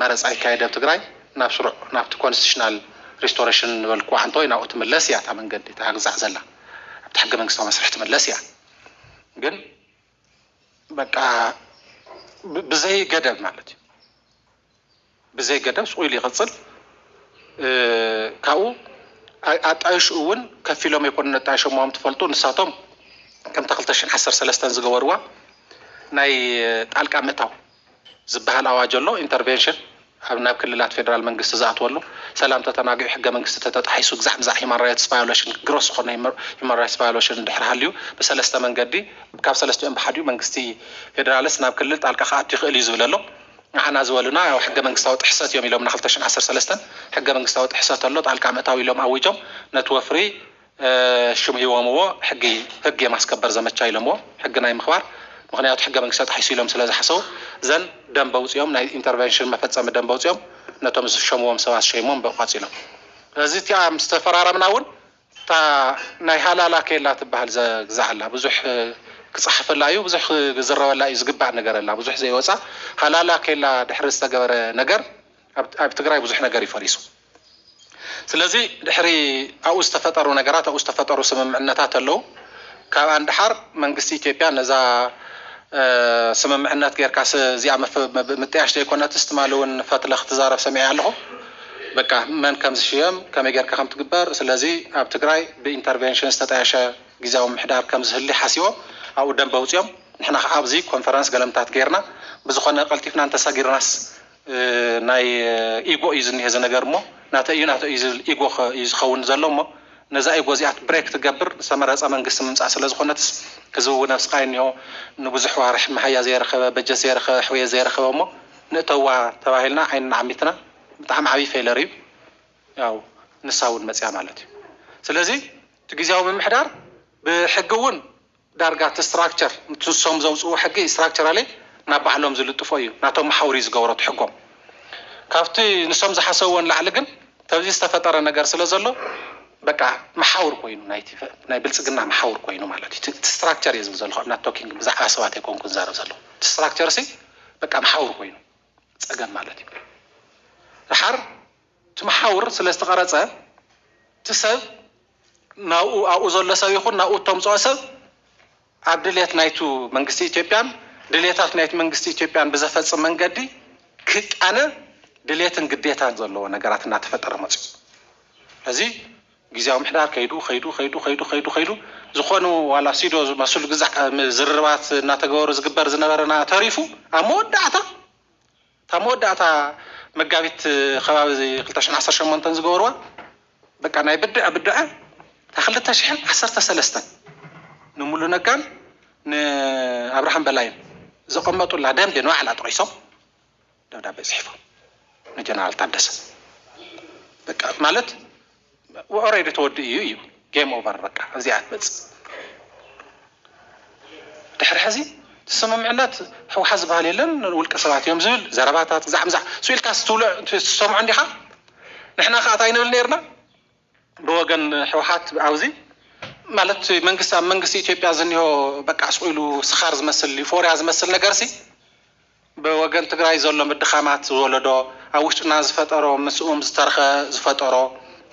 መረፃ ይካየድ ኣብ ትግራይ ናብ ስሩዕ ናብቲ ኮንስቲቱሽናል ሪስቶረሽን ንበልክዋ ሓንቲ ወይ ናብኡ ትምለስ እያ እታ መንገዲ እታ ግዛዕ ዘላ ኣብቲ ሕገ መንግስታዊ መስርሕ ትምለስ እያ ግን በቃ ብዘይ ገደብ ማለት እዩ ብዘይ ገደብ ስቁ ኢሉ ይቅፅል ካብኡ ኣጣይሹ እውን ከፊሎም ኣይኮኑን ኣጣይሾምዎም ትፈልጡ ንሳቶም ከምታ ክልተ ሽሕን ዓሰርተ ሰለስተን ዝገበርዋ ናይ ጣልቃ ምእታው ዝብሃል ኣዋጅ ኣሎ ኢንተርቬንሽን ኣብ ናብ ክልላት ፌደራል መንግስቲ ዝኣትወሉ ሰላም ተተናጊዑ ሕገ መንግስቲ ተተጣሒሱ ግዛዕ ምዛዕ ሂማን ራይትስ ቫዮለሽን ግሮስ ዝኾነ ሂማን ራይትስ ቫዮለሽን እንድሕር ሃልዩ ብሰለስተ መንገዲ ካብ ሰለስቲኦም ብሓዲኡ መንግስቲ ፌደራልስ ናብ ክልል ጣልቃ ክኣቱ ይኽእል እዩ ዝብል ኣሎ ንዓና ዝበሉና ያው ሕገ መንግስታዊ ጥሕሰት እዮም ኢሎምና ክልተ ሽሕ ዓሰርተ ሰለስተ ሕገ መንግስታዊ ጥሕሰት ኣሎ ጣልቃ ምእታው ኢሎም ኣዊጆም ነቲ ወፍሪ ሽም ሂቦምዎ ሕጊ ህግ የማስከበር ዘመቻ ኢሎምዎ ሕጊ ናይ ምክባር ምክንያቱ ሕገ መንግስቲ ተጣሒሱ ኢሎም ስለ ዝሓሰቡ ዘን ደንብ ኣውጺኦም ናይ ኢንተርቨንሽን መፈጸሚ ደንብ ኣውጺኦም ነቶም ዝሾምዎም ሰባት ሸይሞም በብ ቃጺሎም ስለዚ እቲኣ ምስ ተፈራረምና ውን እታ ናይ ሃላላ ኬላ ትብሃል ዘግዛዕ ኣላ ብዙሕ ክጻሓፈላ እዩ ብዙሕ ክዝረበላ እዩ ዝግባእ ነገር ኣላ ብዙሕ ዘይወጻ ሃላላ ኬላ ድሕሪ ዝተገበረ ነገር ኣብ ትግራይ ብዙሕ ነገር እዩ ፈሪሱ ስለዚ ድሕሪ ኣብኡ ዝተፈጠሩ ነገራት ኣብኡ ዝተፈጠሩ ስምምዕነታት ኣለው። ካብኣ ንደሓር መንግስቲ ኢትዮጵያ ነዛ ስምምዕነት ጌርካስ እዚኣ ምጥያሽ ዘይኮነትስ ትማሊ እውን ፈትለ ክትዛረብ ሰሚዐያ ኣለኹ በቃ መን ከም ዝሽየም ከመይ ጌርካ ከም ትግበር ስለዚ ኣብ ትግራይ ብኢንተርቬንሽን ዝተጣየሸ ግዝያዊ ምምሕዳር ከም ዝህሊ ሓሲቦም ኣብኡ ደንበ ኣውጺኦም ንሕና ከኣ ኣብዚ ኮንፈረንስ ገለምታት ጌርና ብዝኾነ ቀልጢፍና እንተሰጊርናስ ናይ ኢጎ እዩ ዝኒሀ እዚ ነገር እሞ ናተይ እዩ ናተይ እዩ ዝብል ኢጎ እዩ ዝከውን ዘሎ እሞ ነዛ ኢጎ እዚኣ ብሬክ ትገብር ዝተመረፀ መንግስቲ ምምፃእ ስለ ዝኮነትስ ህዝቢ እውን ኣብ ስቃይ እኒሆ ንቡዙሕ ዋርሒ መሃያ ዘይረከበ በጀት ዘይረከበ ሕውየት ዘይረከበ እሞ ንእተዋ ተባሂልና ዓይንና ዓሚትና ብጣዕሚ ዓብይ ፌለር እዩ ያው ንሳ እውን መፂኣ ማለት እዩ ስለዚ እቲ ግዝያዊ ምምሕዳር ብሕጊ እውን ዳርጋ እቲ ስትራክቸር ንሶም ዘውጽእዎ ሕጊ ስትራክቸራሊ ናብ ባህሎም ዝልጥፎ እዩ ናቶም መሓውር እዩ ዝገብሮ እቲ ሕጎም ካብቲ ንሶም ዝሓሰብዎ ንላዕሊ ግን ተብዚ ዝተፈጠረ ነገር ስለ ዘሎ በቃ መሓውር ኮይኑ ናይቲ ናይ ብልጽግና መሓውር ኮይኑ ማለት እዩ እቲ ስትራክቸር እየ ዝብል ዘለኹ ኣብ ናት ቶኪንግ ብዛዕባ ሰባት ኣይኮንኩን ዝዛረብ ዘለኹ እቲ ስትራክቸር ሲ በቃ መሓውር ኮይኑ ጸገም ማለት እዩ ደሓር እቲ መሓውር ስለ ዝተቐረጸ እቲ ሰብ ናብኡ ኣብኡ ዘሎ ሰብ ይኹን ናብኡ እተምጽኦ ሰብ ኣብ ድሌት ናይቱ መንግስቲ ኢትዮጵያን ድሌታት ናይቲ መንግስቲ ኢትዮጵያን ብዘፈጽም መንገዲ ክቃነ ድሌትን ግዴታን ዘለዎ ነገራት እናተፈጠረ መጺኡ። ስለዚ ግዝያዊ ምሕዳር ከይዱ ከይዱ ከይዱ ከይዱ ከይዱ ከይዱ ዝኾኑ ዋላ ሲዶ ዝመስሉ ግዛዕ ዝርርባት እናተገበሩ ዝግበር ዝነበረና ተሪፉ ኣብ መወዳእታ እታ መወዳእታ መጋቢት ከባቢ ክልተ ሽሕን ዓሰርተ ሸሞንተን ዝገበርዋ በቃ ናይ ብድዐ ብድዐ እታ ክልተ ሽሕን ዓሰርተ ሰለስተን ንሙሉ ነጋን ንኣብርሃም በላይን ዘቐመጡላ ደንቢ ንባዕላ ጠቒሶም ደብዳቤ ጽሒፎም ንጀነራል ታደሰ በቃ ማለት ኦረዲ ተወዲኡ እዩ ጌም ኦቨር በቃ ኣብዚኣ ትመጽእ ድሕሪ ሕዚ ስምምዕነት ህውሓት ዝበሃል የለን ውልቀ ሰባት እዮም ዝብል ዘረባታት ዛዕምዛዕ ስኢልካ ትሰምዖ እንዲኻ ንሕና ከዓ እንታይ ንብል ነርና ብወገን ህውሓት ኣብዚ ማለት መንግስቲ ኣብ መንግስቲ ኢትዮጵያ ዝኒሆ በቃ ስኢሉ ስኻር ዝመስል ዩፎርያ ዝመስል ነገርሲ ብወገን ትግራይ ዘሎ ምድኻማት ዝወለዶ ኣብ ውሽጥና ዝፈጠሮ ምስኡም ዝተረኸ ዝፈጠሮ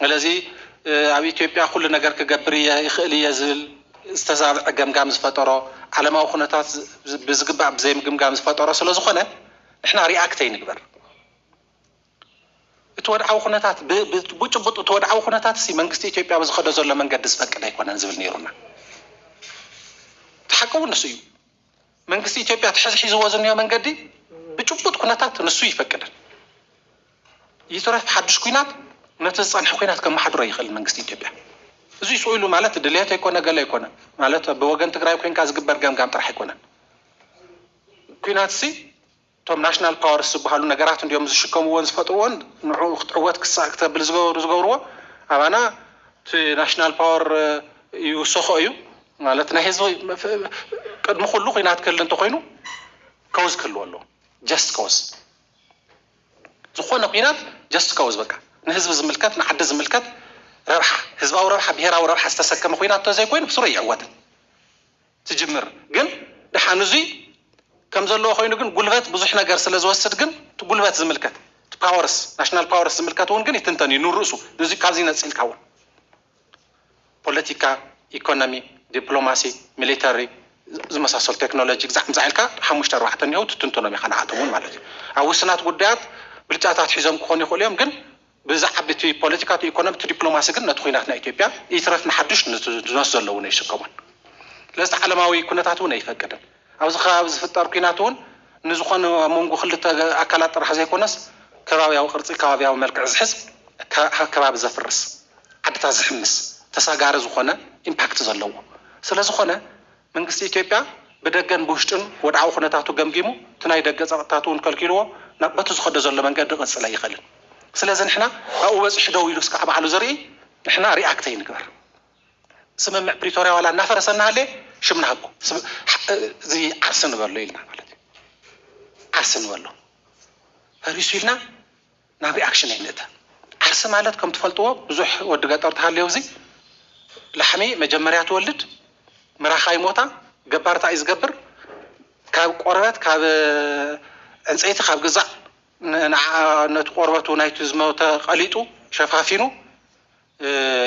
እለዚ ኣብ ኢትዮጵያ ኩሉ ነገር ክገብር እየ ይኽእል እየ ዝብል ዝተዛብዐ ገምጋም ዝፈጠሮ ዓለማዊ ኩነታት ብዝግባእ ብዘይምግምጋም ዝፈጠሮ ስለዝኾነ ንሕና ሪኣክት ኣይንግበር እቲ ወድዓዊ ኩነታት ብጭቡጥ እቲ ወድዓዊ ኩነታት ሲ መንግስቲ ኢትዮጵያ ብዝኸዶ ዘሎ መንገዲ ዝፈቅድ ኣይኮነን ዝብል ነይሩና እቲ ሓቂ እውን ንሱ እዩ መንግስቲ ኢትዮጵያ እቲ ሕዚ ሒዝዎ ዝኒሆ መንገዲ ብጭቡጥ ኩነታት ንሱ እይፈቅድን። ይትረፍ ሓዱሽ ኩናት ነቲ ዝፀንሐ ኩናት ከመሓድሮ ኣይኽእልን መንግስቲ ኢትዮጵያ። እዙይ ስኡ ኢሉ ማለት ድልየት ኣይኮነ ገለ ኣይኮነ ማለት ብወገን ትግራይ ኮይንካ ዝግበር ገምጋም ጥራሕ ኣይኮነን ኩናትሲ እቶም ናሽናል ፓወርስ ዝበሃሉ ነገራት እንድዮም ዝሽከምዎን ዝፈጥርዎን ንዕኡ ክትዕወት ክሳእ ክተብል ዝገብርዎ ኣባና እቲ ናሽናል ፓወር ይውሰኾ እዩ ማለት ናይ ህዝቢ ቅድሚ ኩሉ ኩናት ክህሊ እንተኾይኑ ከውዝ ክህልዎ ኣለዎ ጀስት ከውዝ ዝኾነ ኩናት ጀስት ከውዝ በቃ ንህዝቢ ዝምልከት ንዓዲ ዝምልከት ረብሓ ህዝባዊ ረብሓ ብሄራዊ ረብሓ ዝተሰከመ ኩናት ተዘይኮይኑ ብስሩ ኣይዕወትን። ትጅምር ግን ድሓን እዙይ ከም ዘለዎ ኮይኑ ግን ጉልበት ብዙሕ ነገር ስለ ዝወስድ ግን እቲ ጉልበት ዝምልከት እቲ ፓወርስ ናሽናል ፓወርስ ዝምልከት እውን ግን ይትንተን እዩ ንርእሱ ንዙይ ካብዙይ ነፂልካ እውን ፖለቲካ ኢኮኖሚ ዲፕሎማሲ ሚሊተሪ ዝመሳሰሉ ቴክኖሎጂ ግዛዕ ምዛዕ ኢልካ ሓሙሽተ ኣርባዕተ እኒሀው ትትንትኖም ኢኻ ንዓኣቶም እውን ማለት እዩ ኣብ ውስናት ጉዳያት ብልጫታት ሒዞም ክኾኑ ይኽእሉ እዮም ግን ብዛዕብ እቲ ፖለቲካ እቲ ኢኮኖሚ እቲ ዲፕሎማሲ ግን ነቲ ኹናት ናይ ኢትዮጵያ ይትረፍ ንሓዱሽ ንዝመስ ዘሎ እውን ኣይስከሞን ስለዝቲ ዓለማዊ ኩነታት እውን ኣይፈቅድን ኣብዚ ከባቢ ዝፍጠር ኩናት እውን ንዝኾነ ኣብ መንጎ ክልተ ኣካላት ጥራሕ ዘይኮነስ ከባብያዊ ቅርፂ ከባብያዊ መልክዕ ዝሕዝ ከባቢ ዘፍርስ ዓድታት ዝሕምስ ተሳጋሪ ዝኾነ ኢምፓክት ዘለዎ ስለዝኾነ መንግስቲ ኢትዮጵያ ብደገን ብውሽጥን ወድዓዊ ኩነታቱ ገምጊሙ እቲ ናይ ደገ ጸቕጥታቱ እውን ከልኪሉዎ ናብ በቲ ዝኸዶ ዘሎ መንገዲ ክቕጽል ኣይኽእልን። ስለዚ ንሕና ኣብኡ በጺሑ ደው ኢሉ እስካዕ ባዕሉ ዝርኢ ንሕና ሪኣክት ኣይንግበር። ስምምዕ ፕሪቶርያ ዋላ እናፈረሰ እናሃለየ ሽም ንሃቦ። እዚ ዓርሰ ንበሎ ኢልና ማለት እዩ። ዓርሰ ንበሎ ፈሪሱ ኢልና ናብ ሪኣክሽን ኣይንእተ ዓርሲ ማለት ከም ትፈልጥዎ ብዙሕ ወዲ ገጠር ተሃልዮ እዚ ላሕሚ መጀመርያ ትወልድ ምራኻ ይሞታ ገባር ታይ እዩ ዝገብር ካብ ቆርበት ካብ ዕንጸይቲ ካብ ግዛዕ ንዓኣ ነቲ ቆርበቱ ናይቲ ዝሞተ ቀሊጡ ሸፋፊኑ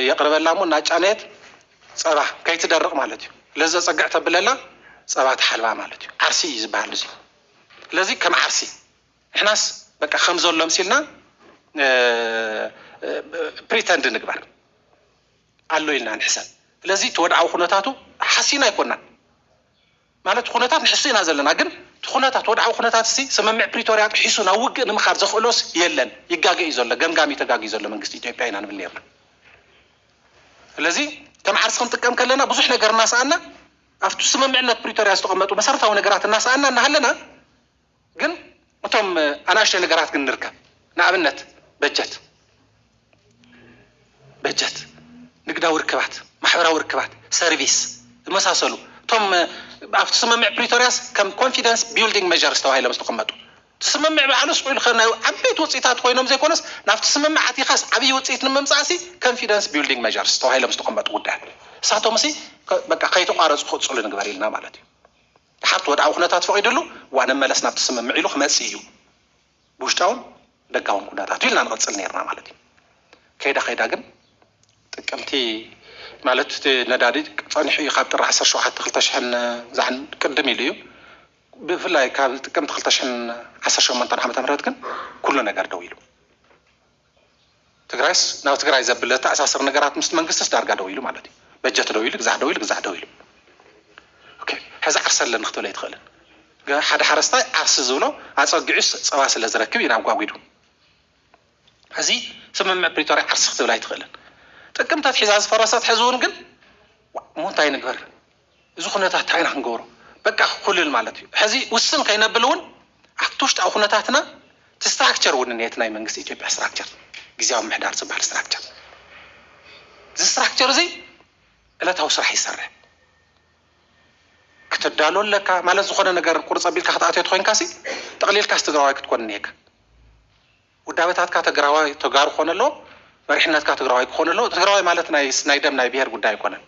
የቅርበላ እሞ እናጫነየት ጸባ ከይትደርቅ ማለት እዩ ለዚ ዘጸግዕ ተብለላ ጸባ ትሓልባ ማለት እዩ ዓርሲ እዩ ዝብሃል እዚ ለዚ ከም ዓርሲ ንሕናስ በቃ ከምዘሎ ኣምሲልና ፕሪተንድ ንግበር ኣሎ ኢልና ንሕሰብ ስለዚ እቲ ወድዓዊ ኩነታቱ ሓሲና ኣይኮናን ማለት ኩነታት ንሕሱ ኢና ዘለና ግን እቲ ኩነታት ወድዓዊ ኩነታት ሲ ስምምዕ ፕሪቶርያ ጥሒሱ ናብ ውግእ ንምኻድ ዘኽእሎስ የለን ይጋገ እዩ ዘሎ ገምጋሚ ተጋግዩ ዘሎ መንግስቲ ኢትዮጵያ ኢና ንብል ነርና ስለዚ ከም ዓርሲ ክንጥቀም ከለና ብዙሕ ነገር እናሰኣና ኣብቲ ስምምዕነት ፕሪቶርያ ዝተቐመጡ መሰረታዊ ነገራት እናሰኣና እናሃለና ግን እቶም ኣናእሽተይ ነገራት ግን ንርከብ ንኣብነት በጀት በጀት ንግዳዊ ርክባት ማሕበራዊ ርክባት ሰርቪስ ዝመሳሰሉ እቶም ኣብቲ ስምምዕ ፕሪቶርያስ ከም ኮንፊደንስ ቢልዲንግ መዠርስ ተባሂሎም ዝተቐመጡ እቲ ስምምዕ ባዕሉስ ውዕል ከ ናይ ዓበይቲ ውፅኢታት ኮይኖም ዘይኮነስ ናብቲ ስምምዕ ኣቲኻስ ዓብዪ ውፅኢት ንምምፃእሲ ኮንፊደንስ ቢልዲንግ መዠርስ ተባሂሎም ዝተቐመጡ ጉዳያት እሳቶምሲ በቃ ከይተቋረፁ ክቕፅሉ ንግበር ኢልና ማለት እዩ። ድሓርቲ ወድዓዊ ኩነታት ፈቒድሉ ዋነ መለስ ናብቲ ስምምዕ ኢሉ ክመጽእ እዩ ብውሽጣውን ደጋውን ኩነታቱ ኢልና ንቕጽል ነይርና ማለት እዩ። ከይዳ ከይዳ ግን ጥቅምቲ ማለት እቲ ነዳዲ ጸኒሑ እዩ ካብ ጥሪ ዓሰርተ ሸውዓተ ክልተ ሽሕን ዛን ቅድም ኢሉ እዩ ብፍላይ ካብ ጥቅምቲ ክልተ ሽሕን ዓሰርተ ሸሞንተን ዓመተ ምህረት ግን ኩሉ ነገር ደው ኢሉ። ትግራይስ ናብ ትግራይ ዘብል ዘተኣሳስር ነገራት ምስቲ መንግስትስ ዳርጋ ደው ኢሉ ማለት እዩ። በጀት ደው ኢሉ፣ ግዛዕ ደው ኢሉ፣ ግዛዕ ደው ኢሉ ኦኬ ሕዚ ዓርሰ ኣለኒ ክትብል ኣይትኽእልን። ገ- ሓደ ሓረስታይ ዓርሲ ዝብሎ ኣጸጊዑስ ጸባ ስለ ዝረክብ እዩ ናብ ጓጒዱ። ሕዚ ስምምዕ ፕሪቶርያ ዓርሲ ክትብል ኣይትኽእልን። ጥቅምቲ ኣትሒዛ ዝፈረሰት ሕዚ እውን ግን ዋእ እሞ እንታይ ንግበር? እዚ ኩነታት እንታይ ኢና ክንገብሮ በቃ ክኩልል ማለት እዩ ሕዚ ውስን ከይነብል እውን ኣብቲ ውሽጣዊ ኩነታትና እቲ ስትራክቸር እውን እኒሀ እቲ ናይ መንግስቲ ኢትዮጵያ ስትራክቸር ግዝያዊ ምምሕዳር ዝበሃል ስትራክቸር እዚ ስትራክቸር እዚ ዕለታዊ ስራሕ ይሰርሕ ክትዳሎ ኣለካ ማለት ዝኾነ ነገር ቁርፅ ኣቢልካ ክትኣትዮ ተኮይንካ ሲ ጠቕሊልካስ ትግራዋይ ክትኮን እኒሀካ ውዳበታትካ ተግራዋይ ተጋሩ ክኾኑ ኣለዎም፣ መሪሕነትካ ትግራዋይ ክኾኑ ኣለዎ፣ ትግራዋይ ማለት ናይስ ናይ ደም ናይ ብሄር ጉዳይ ኣይኮነን፣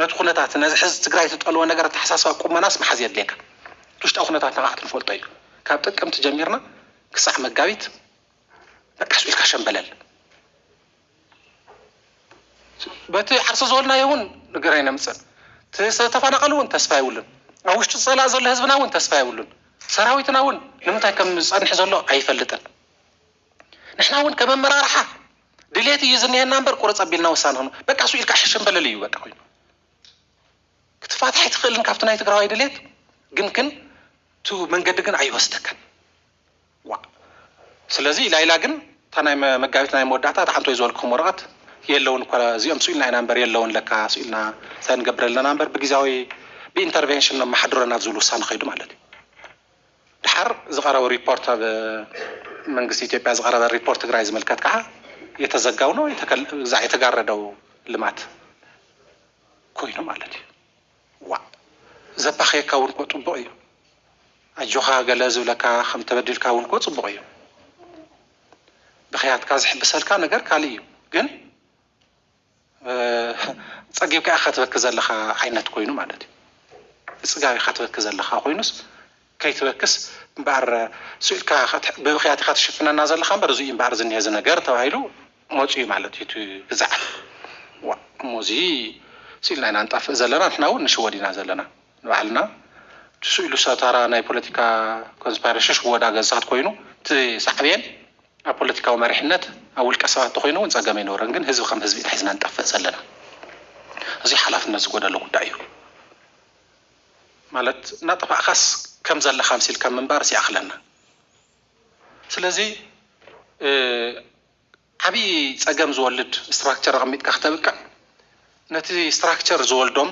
ነቲ ኩነታት ነዚ ሕዚ ትግራይ ትጠልቦ ነገር ኣተሓሳስባ ቁመናስ ምሓዝ የድልየካ፣ እቲ ውሽጣዊ ኩነታት ንዓኻ ክትፈልጦ እዩ፣ ካብ ጥቅምቲ ጀሚርና ክሳዕ መጋቢት በቃ ስኡ ኢልካ ሸምበለል። በቲ ዓርሰ ዝበልናዮ እውን ነገር ኣይነምፅእን። እቲ ዝተፈናቐለ እውን ተስፋ የብሉን። ኣብ ውሽጢ ፀላኢ ዘሎ ህዝብና እውን ተስፋ የብሉን። ሰራዊትና እውን ንምንታይ ከም ዝፀንሕ ዘሎ ኣይፈልጥን። ንሕና እውን ከም ኣመራርሓ ድሌት እዩ ዝኒሀና እምበር ቁርፅ ኣቢልና ውሳነ ሆኑ በቃ እሱ ኢልካ ሕሽም በለል እዩ በቃ ኮይኑ ክትፋታሕ ኣይትኽእልን ካብቲ ናይ ትግራዋይ ድሌት ግን ግን እቲ መንገዲ ግን ኣይወስደካን። ዋእ ስለዚ ኢላ ኢላ ግን እታ ናይ መጋቢት ናይ መወዳእታ እታ ሓንቲ ወይ ዝበልክኹም ወረቐት የለውን እኳ እዚኦም ስኢልና ኢና እምበር የለውን ለካ ስኢልና እንታይ ንገብር ኣለና እምበር ብግዝያዊ ብኢንተርቬንሽን ነመሓድሮ ናብ ዝብል ውሳነ ከይዱ ማለት እዩ ደሓር ዝቐረቡ ሪፖርት ኣብ መንግስቲ ኢትዮጵያ ዝቐረበ ሪፖርት ትግራይ ዝምልከት ከዓ የተዘጋው ነው የተጋረደው ልማት ኮይኑ ማለት እዩ። ዋእ ዘባኽየካ ውን እኮ ጹቡቅ እዩ ኣጆኻ ገለ ዝብለካ ከም ተበዲልካ ውን እኮ ጹቡቅ እዩ ብኽያትካ ዝሕብሰልካ ነገር ካልእ እዩ ግን ጸጊብካ ኢኻ ትበኪ ዘለኻ ዓይነት ኮይኑ ማለት እዩ ብጽጋብ ኢኻ ትበኪ ዘለኻ ኮይኑስ ከይትበክስ እምበኣር ስኢልካ ብብኽያት ኢኻ ትሽፍነና ዘለኻ እምበር እዙይ እዩ እምበኣር ዝኒሀ እዚ ነገር ተባሂሉ መፂኡ ማለት እዩ እቲ ግዛዕ። ዋእ እሞ እዚ ስኢልና ኢና ንጠፍእ ዘለና ንሕና እውን ንሽወድ ኢና ዘለና ንባዕልና እቲ ስኢሉ ሰብ ታራ ናይ ፖለቲካ ኮንስፓይረሽን ሽወዳ ገዝታት ኮይኑ እቲ ሳዕቤን ኣብ ፖለቲካዊ መሪሕነት ኣብ ውልቀ ሰባት እንተኾይኑ እውን ፀገም ኣይነበሮን ግን ህዝቢ ከም ህዝቢ ኢና ሒዝና ንጠፍእ ዘለና እዙይ ሓላፍነት ዝጎደሎ ጉዳይ እዩ። ማለት እናጠፋእካስ ከም ዘለካ ኣምሲልካ ምንባርስ ይኣክለና ስለዚ ዓብይ ፀገም ዝወልድ ስትራክቸር ኣቀሚጥካ ክተብቅዕ ነቲ ስትራክቸር ዝወልዶም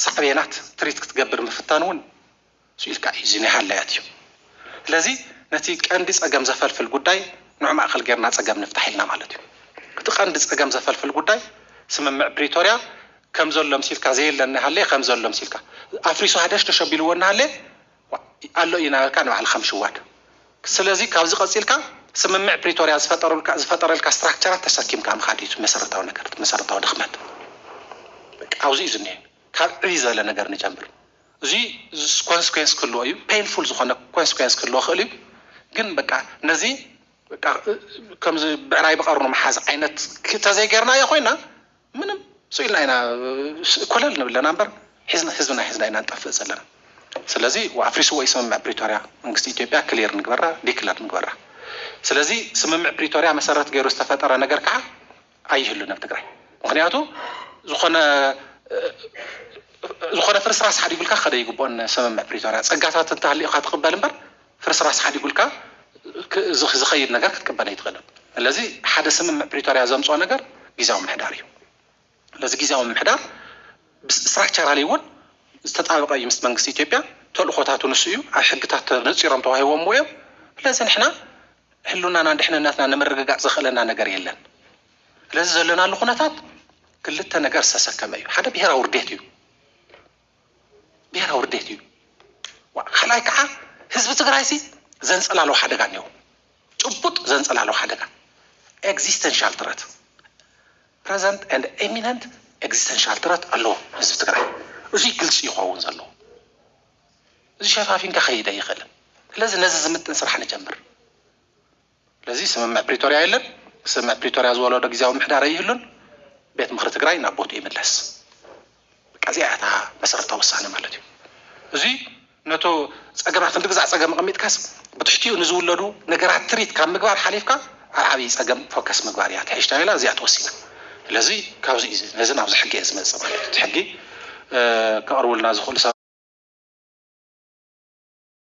ሳዕቤናት ትሪት ክትገብር ምፍታን እውን ስኡ ኢልካ እዩ እዚ ናይ ሃላያት እዩ ስለዚ ነቲ ቀንዲ ፀገም ዘፈልፍል ጉዳይ ንዑ ማእከል ገይርና ፀገም ንፍታሕ ኢልና ማለት እዩ እቲ ቀንዲ ፀገም ዘፈልፍል ጉዳይ ስምምዕ ፕሪቶርያ ከም ዘሎ ኣምሲልካ ዘየለ እናሃለየ ከም ዘሎ ኣምሲልካ ኣፍሪሱ ሃደሽደሽ ኣቢልዎ እናሃለየ ዋእ ኣሎ እዩ እናበልካ ንባዕልኻ ምሽዋድ ስለዚ ካብዚ ቀጺልካ ስምምዕ ፕሪቶርያ ዝፈጠሩልካ ዝፈጠረልካ ስትራክቸራት ተሰኪምካ ምኻድ እዩ እቲ መሰረታዊ ነገር እቲ መሰረታዊ ድኽመት በቃ ኣብዚ እዩ ዝኒሀ ካብ ዕብይ ዝበለ ነገር ንጀምር እዚ ኮንስኩዌንስ ክህልዎ እዩ ፔንፉል ዝኾነ ኮንስኩዌንስ ክህልዎ ክእል እዩ ግን በቃ ነዚ በቃ ከምዚ ብዕራይ ብቐርኑ ምሓዝ ዓይነት ተዘይገርናዮ ኮይና ምንም ሱቅ ኢልና ኢና ኮለል ንብል ለና እምበር ሒዝና ህዝብና ሒዝና ኢና ንጠፍእ ዘለና ስለዚ ኣፍሪስዎ እዩ ስምምዕ ፕሪቶርያ መንግስቲ ኢትዮጵያ ክሊር ንግበራ ዲክለር ንግበራ ስለዚ ስምምዕ ፕሪቶርያ መሰረት ገይሩ ዝተፈጠረ ነገር ከዓ ኣይህሉን ኣብ ትግራይ ምክንያቱ ዝኾነ ዝኾነ ፍርስራስ ሓዲጉልካ ክኸደ ይግብኦን ስምምዕ ፕሪቶርያ ፀጋታት እንተሃሊኡካ ትቅበል እምበር ፍርስራስ ሓዲጉልካ ዝኸይድ ነገር ክትቅበል ኣይትኽእልን። ስለዚ ሓደ ስምምዕ ፕሪቶርያ ዘምፅኦ ነገር ጊዚያዊ ምምሕዳር እዩ። ስለዚ ጊዚያዊ ምምሕዳር ስትራክቸራሊ እውን ዝተጣበቐ እዩ ምስ መንግስቲ ኢትዮጵያ፣ ተልእኾታቱ ንሱ እዩ፣ ኣብ ሕግታት ተነፂሮም ተዋሂቦምዎ እዮም። ስለዚ ንሕና ህልውናናን ድሕንነትናን ንምርግጋፅ ዘኽእለና ነገር የለን። ስለዚ ዘለናሉ ኩነታት ክልተ ነገር ዝተሰከመ እዩ። ሓደ ብሄራዊ ውርዴት እዩ። ብሄራዊ ርዴት እዩ። ካልኣይ ከዓ ህዝቢ ትግራይሲ ዘንፀላልዎ ሓደጋ እኒሀው። ጭቡጥ ዘንፀላልዎ ሓደጋ ኤግዚስተንሻል ትረት ፕረዘንት ኤንድ ኤሚነንት ኤግዚስተንሻል ትረት ኣለዎ ህዝቢ ትግራይ። እዙይ ግልፂ ይኸውን ዘለዎ። እዚ ሸፋፊንካ ከይድ ኣይኽእልን። ስለዚ ነዚ ዝምጥን ስራሕ ንጀምር። ስለዚ ስምምዕ ፕሪቶርያ የለን፣ ስምምዕ ፕሪቶርያ ዝወለዶ ግዝያዊ ምምሕዳር ኣይህሉን፣ ቤት ምኽሪ ትግራይ ናብ ቦትኡ ይምለስ። በቃ እዚኣ እያ እታ መሰረታዊ ውሳነ ማለት እዩ። እዙይ ነቶ ፀገማት ክንዲ ግዛዕ ፀገም ኣቐሚጥካስ ብትሕቲኡ ንዝውለዱ ነገራት ትሪት ካብ ምግባር ሓሊፍካ ኣብ ዓብዪ ፀገም ፎከስ ምግባር እያ ትሕሽታ ኢላ እዚኣ ተወሲና። ስለዚ ካብዚ እዩ ነዚ ናብዚ ሕጊ እየ ዝመፅእ ማለት እዩ። እቲ ሕጊ ከቕርቡልና ዝኽእሉ ሰባት